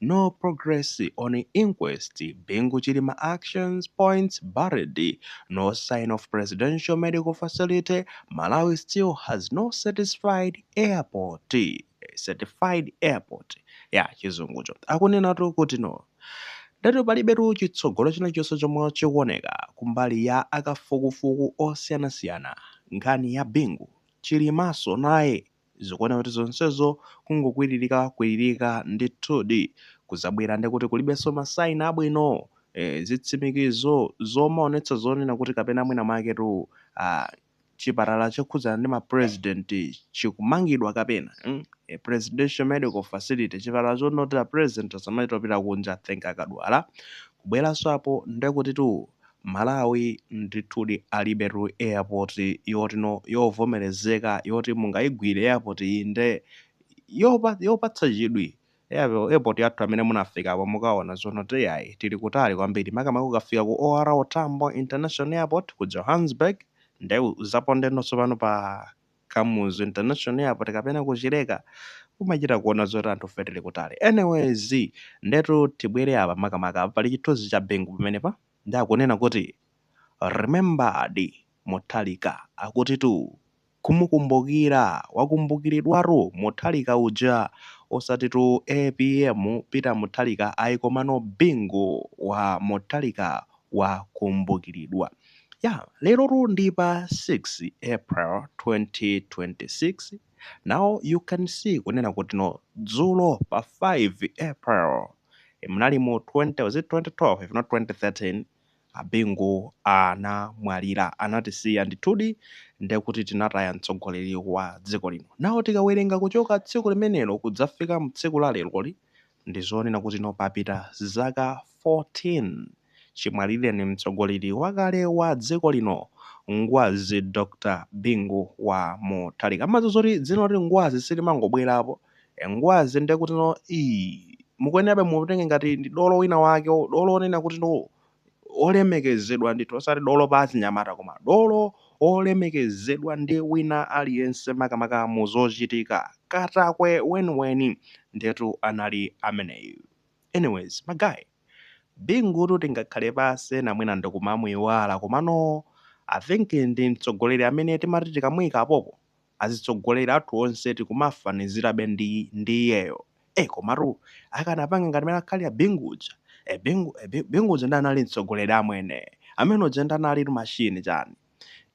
No progress on inquest, Bingu Chilima actions points buried, no sign of presidential medical facility, Malawi still has no certified airport, certified airport ya chizungucho akunenatu kuti no ndithu palibetu chitsogolo china chilichonse chomwe chikuoneka kumbali ya akafukufuku osiyanasiyana nkhani ya Bingu Chilimanso naye Zikuoneka kuti zonsezo kungokwiririka kwiririka ndithudi. Kudzabwera ndi kuti kulibenso ma sign abwino, eh, zitsimikizo zomaonetsa zonena kuti kapena mwina mwaketu, ah, chipatala chokhudzana ndi ma president chikumangidwa kapena, mm, a presidential medical facility, chipatala choti a president asamachite kopita kunja think akadwala, kubweranso apo ndiye kutitu, Malawi ndithudi alibetu airport yoti no yovomerezeka yoti mungaigwire airport iyi nde yopa yopatsa chidwi Airpo airport yathu amene munafikapo mukaona zonena kuti iyayi tili kutali kwambiri makamaka ukafika ku OR tambo international airport ku Johannesburg nde uzapondenso pano pa Kamuzu international airport kapena ku Chileka kumachita kuona zoti anthufe tili kutali anyways ndetu tibwere apa makamaka pali chithunzi cha Bingu pamenepa ndi akunena kuti remembered Mutharika akutitu kumukumbukira wakumbukiridwatu Mutharika uja osatitu apm Peter Mutharika ayi komano Bingu wa Mutharika wakumbukiridwa. Ya, lerotu ndi pa 6 April 2026, now you can see kunena kuti no dzulo pa 5 April munali mu 20 was it 2012 if not 2013 a Bingu anamwalira anatisiya ndithudi ndekuti tinataya mtsogoleri wa dziko lino. Now tikawerenga kuchoka tsiku limenelo kudzafika mu tsiku la leroli Ndi zonena kuti no papita zaka 14 chimwalirireni mtsogoleri wakale wa dziko lino Ngwazi Dr Bingu wa Mutharika mumadziwa zoti dzina loti Ngwazi silimangobwerapo e Ngwazi ndekutino ii mukuyenerabe mutenge ngati ndi dolo wina wake dolo onena kuti no olemekezedwa ndithu osati dolo pa achinyamata koma dolo olemekezedwa ndi wina aliyense makamaka mu zochitika. Katakwe weniweni ndetu anali ameneyu. Anyways magaye, Bingutu tingakhale pansi ena mwina ndikumamuiwala komano I think ndi mtsogoleri amene timati tikamuika apapo azitsogoleri athu onse tikumafanizirabe ndi ndi iyeyo eh komatu akanapanga ngati mmene akhalira Bingu uja eh Bingu eh, Bi- Bingu uja ndi anali mtsogoleri amwene amene uja ndi anali machine chani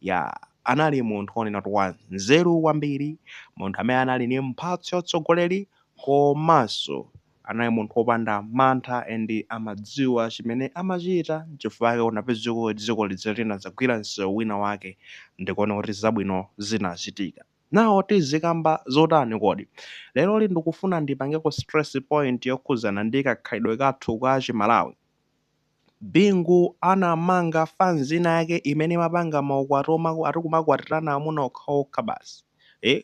ya anali munthu onena kuti wa nzeru kwambiri munthu amene anali ni mphatso ya utsogoleri komanso Anali munthu opanda mantha and amadziwa chimene amachita nchifukwa chake unapeza kuti dziko lija linadzagwira msewu wina wake ndikuoneka kuti zabwino zinachitika. Now tizikamba zotani kodi? Leroli ndikufuna ndipangeko stress point yokhudzana ndi kakhalidwe kathu ka Chimalawi. Bingu anamanga fanzi ina yake imene imapanga maukwati omwe ati kumakwatirana amuna okhaokha basi. Eh?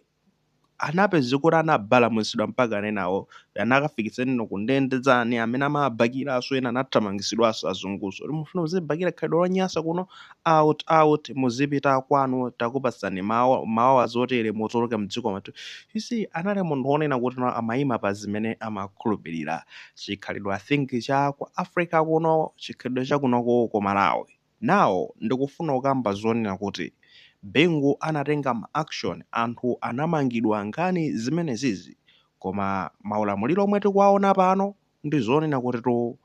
unapeza kuti anabalamutsidwa mpaka enawo anakafikitsana nawo kundende anzawo amene amabakiraso ena anathamangitsidwaso azunguso kuti mufuna muzibakira khalidwe lonyasa kuno out out muzipita kwanu takupatsani ma hours otere mutuluke mdziko mwathu you see anali munthu wonena kuti no amayima pa zimene amakhulupirira chikhalidwe i think cha ku africa kuno chikhalidwe cha kunoko ku malawi Now ndikufuna kukamba zonena kuti Bingu anatenga ma action anthu anamangidwa nkhani zimenezizi koma maulamuliro omwe tikuwaona pano ndizonena kutitu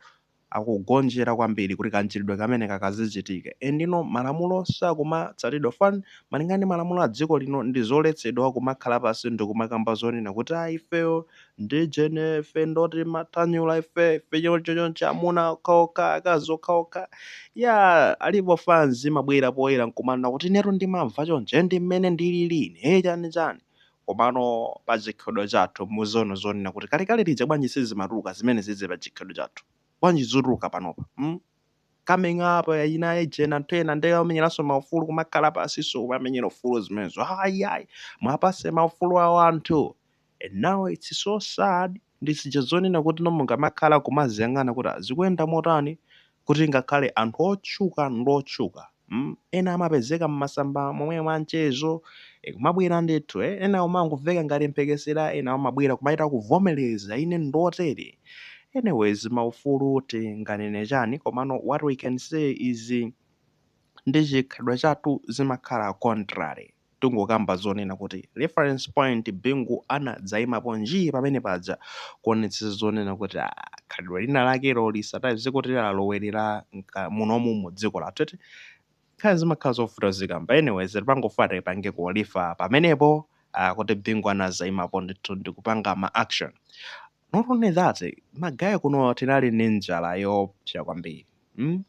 akugonjera kwambiri kuti kamchitidwe kameneka kazichitike and you know malamulo sakumatsatidwa fan malingana ndi malamulo adziko lino ndizoletsedwa kumakhala pansi ndikumakamba zonena kuti ayi ifeyo ndi ujeni ife ndoti mathanyula ife ife choncho choncho amuna okhaokha akazi okhaokha ya alipo fanzi imabwera poyera nkumanena kuti inetu ndimamva choncho ndi mmene ndilili ine eh, chani chani komano pa chikhalidwe chathu muziona zonena kuti kalekale lija bwanji sizimatuluka zimenezizi pa chikhalidwe chathu bwanji zituluka panopa mm? coming up eh, ina ujeni anthu ena ndi amenyeranso maufulu kumakhala pasiso kumamenyera ufulu zimenezo ayi ayi muwapase maufulu awo anthu and now its so sad ndi zija zonena kuti no mungamakhala kumaziyang'ana kuti ah zikuyenda motani kuti ngakhale anthu otchuka ndi otchuka mm ena amapezeka mmasamba momwemo anchezo eh kumabwera ndithu eh ena kumangomveka ngati mphekesera ena amabwera kumachita kuvomereza ine ndotere anyways maufulu tinganene chani komano what we can say izi ndi chikhalidwe chathu zimakhala contrary Tungokamba zonena kuti reference point Bingu anadzaimapo njii pamene paja kuonetsetsa zonena kuti aah khalidwe lina lakelo lisatayize kuti lalowerera munomu mu dziko lathu eti. Nkhani zimakhala zovuta kuzikamba anyways timangofuna tipangeko refer pamenepo aah kuti Bingu anadzaimapo ndithu ndikupanga ma action not only that magaye kuno tinali ndi njala yoopsa kwambiri mm?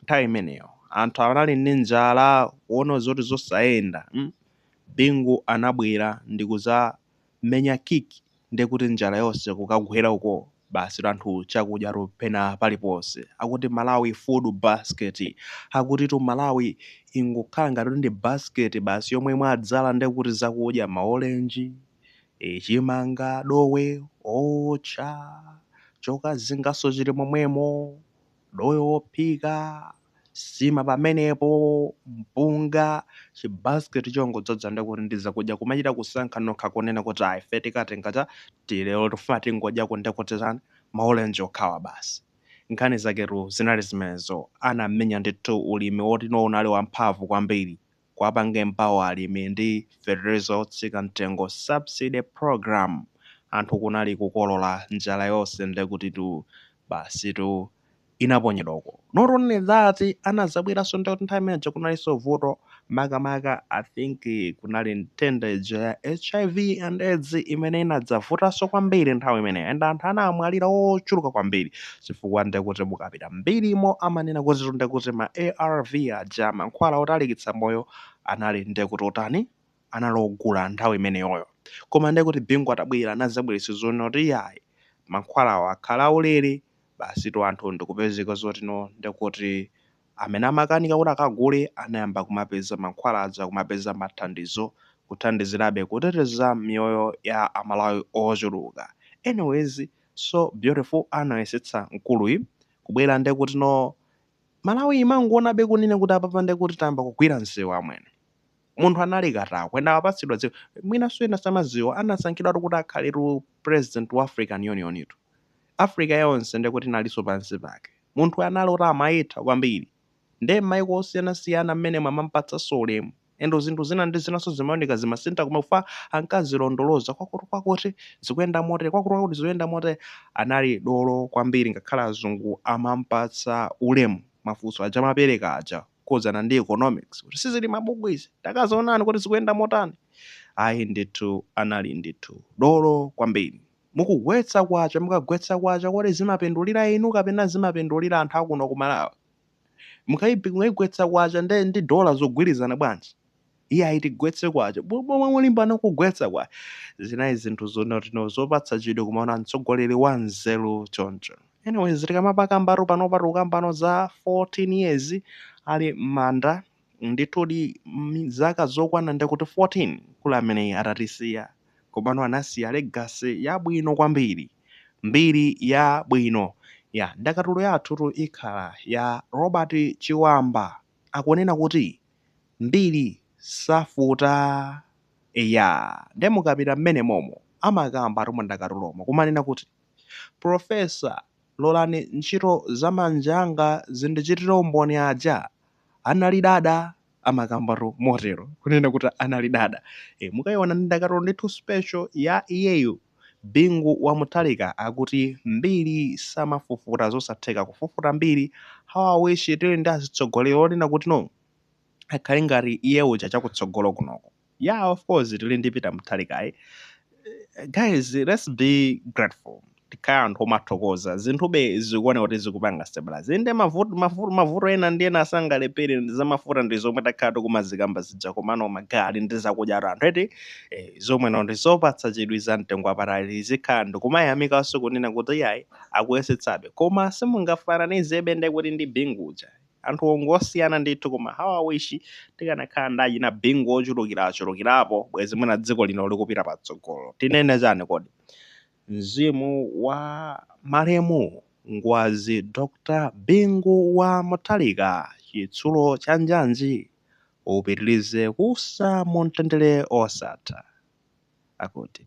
nthawi imeneyo anthu anali ndi njala kuona zoti zosayenda mm? bingu anabwera ndi kuzamenya kick nde kuti njala yonse kukagwera uko basi anthu chakudya tu pena paliponse akuti malawi food basket akutitu malawi ingokhala ngati ndi basket basi yomwe mwadzadza nde kuti zakudya maolenji e chimanga dowe owotcha chokazinganso chili momwemo dowe wophika nsima pamenepo mpunga chi basket chongodzadza ndekuti ndi zakudya kumachita kusankha nokha kunena kuti ife tikatenga chakuti lero tifuna tingodyako ndekuti chani maolenji okhawa basi nkhani zaketu zinali zimenezo anamenya ndithu ulimi woti no unali wamphamvu kwambiri Kuwapanga empower alimi ndi feteleza otsika mtengo, subsidy program, anthu kunali kukolola njala yonse ndekutitu basitu inaponyedwa uko. Not only that anazabweranso ndekuti nthawi imeneija kunalinso vuto makamaka I think kunali nthenda ija ya hiv and aids imene inadzavutanso kwambiri nthawi imeneyo and anthu anamwalira ochuluka kwambiri. chifukwa ndekuti mukapita m'mbirimo amanena kuti ndekuti ma arv aja, mankhwala otalikitsa moyo, anali ndekuti otani, anali ogula nthawi imeneyoyo. Koma ndekuti Bingu atabwera anadzabweretsa zonoti iyayi, mankhwalawo akhala aulere, basitu anthu ndikupezeka zotino ndekuti amene amakanika kuti akagule anayamba kumapeza mankhwala aja, kumapeza mathandizo, kuthandizirabe kuteteza miyoyo ya Amalawi ochuluka. Anyways, So beautiful anayesetsa mkuluyi kubwera ndekuti no Malawi imangowonabe kunena kuti apapa ndekuti tayamba kugwira msewu amwene. Munthu anali katakwe and apatsidwa dziko. Mwinanso ena samadziwa anasankhidwatu kuti akhaletu president wa African Union tu. Africa yonse ndekuti inalinso pansi pake. Munthuyu anali oti amayitha kwambiri. Nde mmayiko osiyanasiyana mmenemo amamupatsanso ulemu. and zinthu zina ndi zinanso zimaoneka zimasintha ku MEFA ankazilondoloza kwakuti kwakuti zikuyenda motere kwakuti kwakuti zikuyenda motere anali dolo kwambiri ngakhale azungu amampatsa ulemu mafunso aja amapereka aja kukhudzana ndi economics kuti sizili mabuku izi takazionani kuti zikuyenda motani ayi ndithu anali ndithu dolo kwambiri mukugwetsa kwacha mukagwetsa kwacha kodi zimapindulira inu kapena zimapindulira anthu akuno ku malawi Mukayigwetsa kwacha nde ndi dollar zogwirizana bwanji? Iye ayi tigwetse kwacha. Pomwe mulimbana kugwetsa kwacha. Zinali zinthu zonoti no zopatsa chidwi kumaona mtsogoleri wa nzeru choncho. Anyways tikamapakambatu panopa tikukambano za 14 years ali mmanda. Ndithudi, zaka zokwana ndekuti 14 mkulu ameneyu atatisiya, komano anasiya legacy yabwino kwambiri, mbiri yabwino. Ya, ndakatulo yathutu ikhala ya Robert Chiwamba, akunena kuti, Mbiri safufuta. Eya, ndiye mukapita m'mene momo, amakambatu mu ndakatulomo, kumanena kuti, Professor, lolani ntchito za manja anga zindichitire umboni aja anali dada amakambatu motero kunena kuti anali dada e, mukayiona ndi ndakatulo ndithu special ya iyeyo Bingu wa Mutharika akuti mbiri samafufuta zosatheka kufufuta mbiri how I wish tili ndi azitsogoleri onena kuti no akhale ngati iye uja chakutsogolo kunoko. yeah of course tili ndi peter mutharika ayi guys let's be grateful tikhale anthu omathokoza zinthube zikuoneka kuti zikupanga stabilize inde mavuto ena ndi ena sangalephere ndi zamafuta ndi zomwe takhala tikumazikamba zija komano magale ndi zakudyatu anthu eti eh, zomwe nzo ndi zopatsa chidwi za mtengo wapatali tizikhala ndikumayamikanso kunena kuti yayi akuyesetsabe koma simungafananizebe ndekuti ndi bingu uja anthuwo ngosiyana ndithu koma how i wish tikanakhala ndi achina bingu ochulukirachulukirapo bwezi mwina dziko lino likupita patsogolo tinene chani kodi mzimu wa malemu ngwazi dr bingu wa mutharika chitsulo cha njanji upitirize kuusa mu mtendere osatha akuti